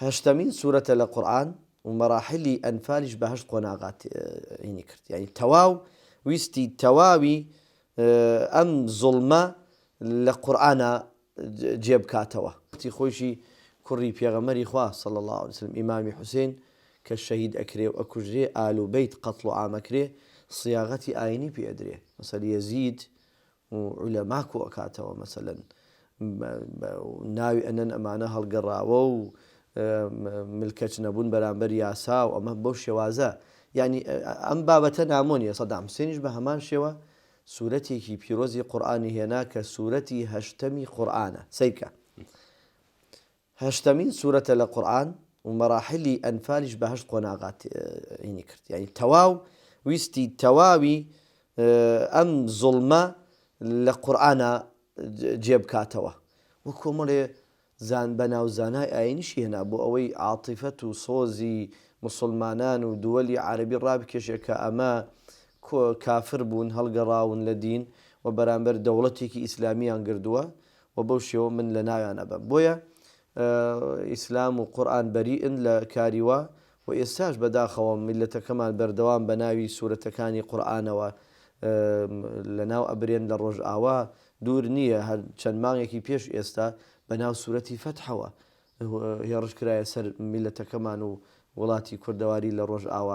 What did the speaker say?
هەشتەمین سورەتە لە قورئان و مەراحیلی ئەنفالیش بە هەشت قۆناغا تەعینی کرد یانی تەواو ویستی تەواوی ئەم زوڵمە لە قورئانا جێ بکاتەوە. وەختی خۆیشی کوڕی پێغەمبەری خوا، صلی اللە علیە وسلم، ئیمامی حوسەین کە شەهید ئەکرێ و ئەکوژرێ ئال و بەیت قەتڵ و عام ئەکرێ، صیاغەتی ئاینی پێ ئەدرێ، مەسەل یەزید و عولەما کۆ ئەکاتەوە مەسەلەن ناوی ئەنەن ئەمانە هەڵگەڕاوە و ملکەچ نەبوون بەرامبەر یاسا و ئەمە بەو شێوازە یعنی ئەم بابەتە نامۆ نیە سەدام حسێنیش بە هەمان شێوە سوورەتێکی پیرۆزی قورآانی هێنا کە سوورەتی هەشتەمی قورآانە سیرکە هەشتەمین سورەتە لە قورئان و مەراحیلی ئەنفالیش بە هەشت قۆناغا تەعینی کرد یانی تەواو ویستی تەواوی ئەم زوڵمە لە قورئانا جێ بکاتەوە و کۆمەڵێ زان بەناو زانای ئاینیشی هێنا بۆ ئەوەی عاتیفەت و سۆزی موسوڵمانان و دووەلی عارەبی ڕابکێشێ کە ئەمە کۆ کافر بوون هەڵگەڕاون لە دین و بەرامبەر دەوڵەتێکی ئیسلامیان گردووە و بەو شێوە من لە ناویان ئەبەم بۆیە ئیسلام و قورئان بەریئن لە کاری وا و ئێستاش بەداخەوە میللەتەکەمان بەردەوام بە ناوی سورەتەکانی قورئانەوە لە ناو ئەبرێن لە ڕۆژئاوا دوور نییە هەر چەند مانگێکی پێش ئێستا بە ناو سورەتی فەتحەوە هێڕش کرایە سەر میللەتەکەمان و وڵاتی کوردەواری لە ڕۆژئاوا.